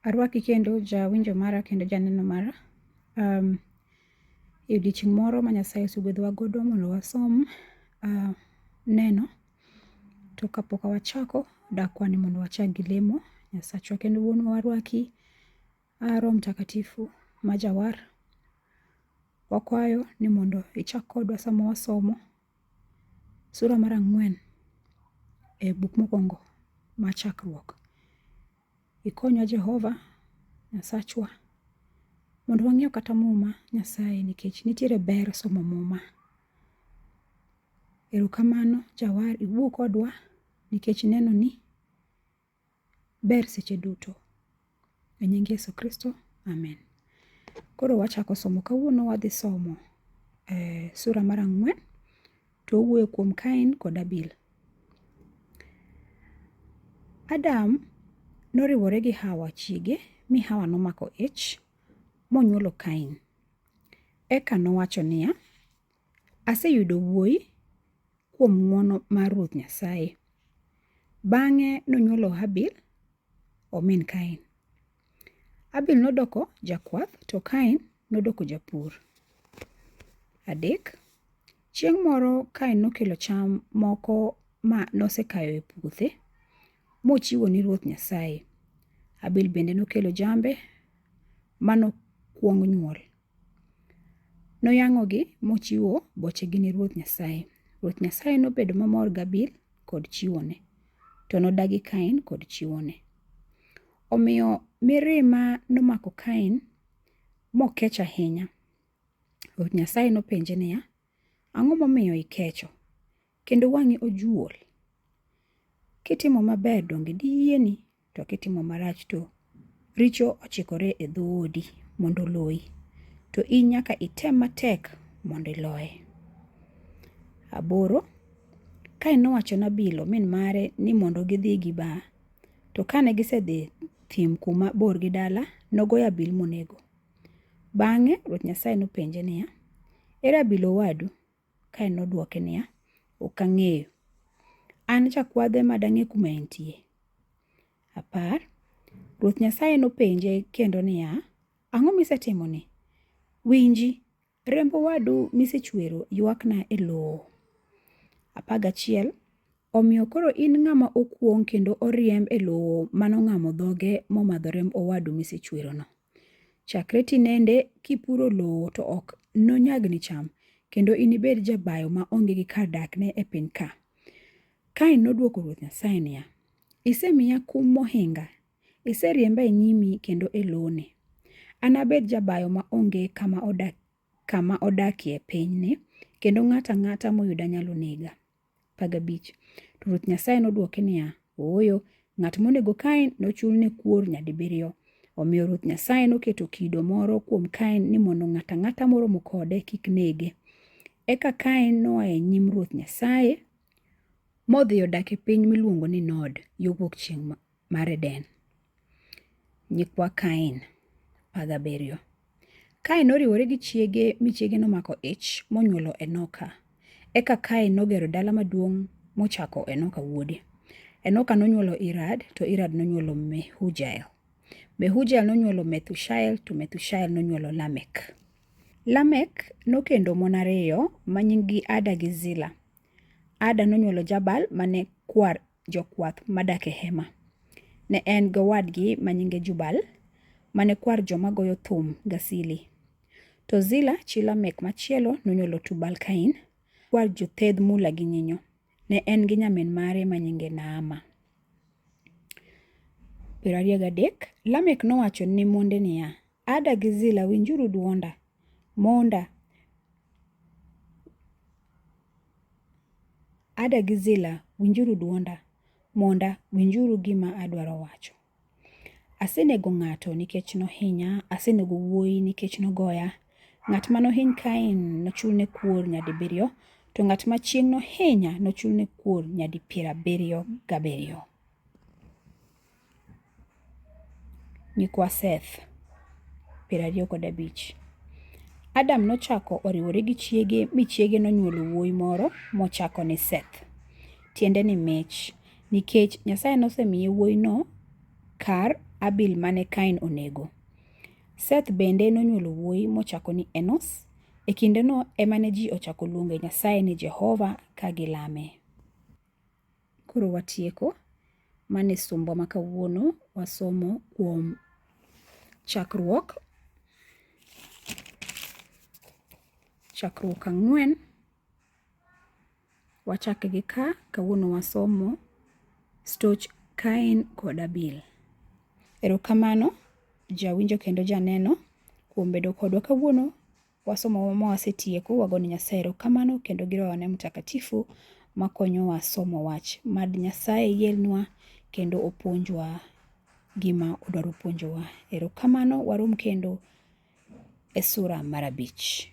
Arwaki kendo jawinjo mara kendo janeno mara. Um, e odiechieng' moro ma Nyasaye osegwedhowa godo mondo wasom uh, neno to kapok wachako dakwa ni mondo wachak gi lemo Nyasachwa kendo wuonwa warwaki A Roho Mtakatifu ma jawar, wakwayo ni mondo ichak kodwa sama wasomo sura mar ang'wen e buk mokwongo ma Chakruok. Ikonywa Jehova Nyasachwa mondo wang'eyo kata Muma Nyasaye nikech nitiere ber somo Muma. Erokamano jawar iwuo kodwa nikech ineno ni ber seche duto. E nying Yesu Kristo, amen. Koro wachako somo. Kawuono wadhi somo eh, sura mar ang'wen to owuoyo kuom Kain kod Abil. Adam noriwore gi Hawa chiege mi Hawa nomako ich monyuolo Kain. Eka nowacho niya, Aseyudo wuoyi kuom ng'wono mar Ruoth Nyasaye. Bang'e nonywolo Habil omin Kain. Habil nodoko jakwath to Kain nodoko japur. Adek, chieng' moro Kain nokelo cham moko ma nosekayo e puothe mochiwo ni Ruoth Nyasaye. Habil bende nokelo jambe manokwong nyuol. Noyang'ogi mochiwo bochegi ni Ruoth Nyasaye. Ruoth Nyasaye nobedo mamor gAbil kod chiwone, to nodagi Kain kod chiwone. Omiyo mirima nomako Kain mokech ahinya. Ruoth Nyasaye nopenje niya, Ang'o momiyo ikecho, kendo wang'i ojuol? Kitimo maber donge diyieni, to kitimo marach to richo ochikore e dhoodi mondo oloyi, to in nyaka item matek mondo iloye. Aboro, kae nowacho Nabilo min mare ni mondo gidhi gi ba, to kane gisedhi thim kuma bor gi dala, nogoyo abil monego. Bang'e Ruoth Nyasaye nopenje niya, Ere abila owadu? Kain nodwoke niya, Ok ang'eyo. An jakwadhe ma dang'e kuma entie. Apar, Ruoth Nyasaye nopenje kendo niya, Ang'o misetimoni? Winji, remb owadu misechwero ywakna e lowo. Apar gachiel, Omiyo koro in ng'ama okuong' kendo oriemb e lowo mano ng'amo dhoge momadho remb owadu misechwerono. Chakre tinende kipuro lowo to ok nonyagni cham, kendo inibed jabayo ma onge gi kar dakne e piny ka. Kain nodwoko Ruoth Nyasaye niya, Isemiya kum mohinga, iseriemba e nyimi kendo e loni. Anabed jabayo ma onge kama odak kama odakie pinyni, kendo ng'ato ang'ata moyuda nyalo nega. 15. To Ruoth Nyasaye nodwoke niya, Ooyo, ng'at monego Kain nochulne kuor nyadibiriyo. Omiyo Ruoth Nyasaye noketo kido moro kuom Kain ni mondo ng'ato ang'ata moromo kode kik nege. Eka Kain noa e nyim Ruoth Nyasaye modhi odak e piny miluongo ni Nod, yo wuok chieng' mar Eden. Nyikwa Kain, apar gabiriyo. Kain noriwore gi chiege mi chiege nomako ich monyuolo Enoka. Eka Kain nogero dala maduong' mochako Enoka wuode. Enoka nonyuolo Irad, to Irad nonyuolo Mehujael. Mehujael nonyuolo Methushael, to Methushael nonyuolo Lamek. Lamek nokendo mon ariyo ma nyinggi Ada gi Zila. Ada nonyuolo Jabal mane kwar jokwath madak e hema. Ne en gi owadgi ma nyinge Jubal, mane kwar joma goyo thum Gasili. To Zila chi Lamek machielo nonywolo Tubal Kain, kwar jothedh mula gi nyinyo. Ne en gi nyamin mare ma nyinge Naama. Piero ariyo gadek, Lamek nowacho ni monde niya, Ada gi Zila winjuru dwonda. Monda. Ada gi Zila winjuru dwonda. Monda winjuru gima adwaro wacho. Asenego ng'ato nikech nohinya, asenego wuoyi nikech nogoya. Ng'at ma nohiny Kain nochulne kuor nyadibiriyo, to ng'at ma chieng' nohinya nochulne kuor nyadi piero abiriyo gabiriyo. nyikwa Seth, piero ariyo kod abich. Adam nochako oriwore gi chiege mi chiege nonyuolo wuoyi moro mochako ni Seth, tiende ni mich, nikech Nyasaye nosemiye wuoyino kar Abil mane Kain onego. Seth bende nonyuolo wuoyi mochako ni Enos. E kindeno ema ne ji ochako luongo Nyasaye ni Jehova ka gilame. Koro watieko. Mane sombwa ma kawuono wasomo kuom chakruok chakruok ang'wen. Wachak gi ka kawuono wasomo stoch Kain kod Abil. Erokamano jawinjo kendo janeno kuom bedo kodwa kawuono. wasomo ma wasetieko wago ne Nyasaye erokamano kendo gi Rohone Mtakatifu makonyowa somo wach. Mad Nyasaye yienwa kendo opuonjwa gima odwaro puonjowa. Erokamano warom kendo e sura mar abich.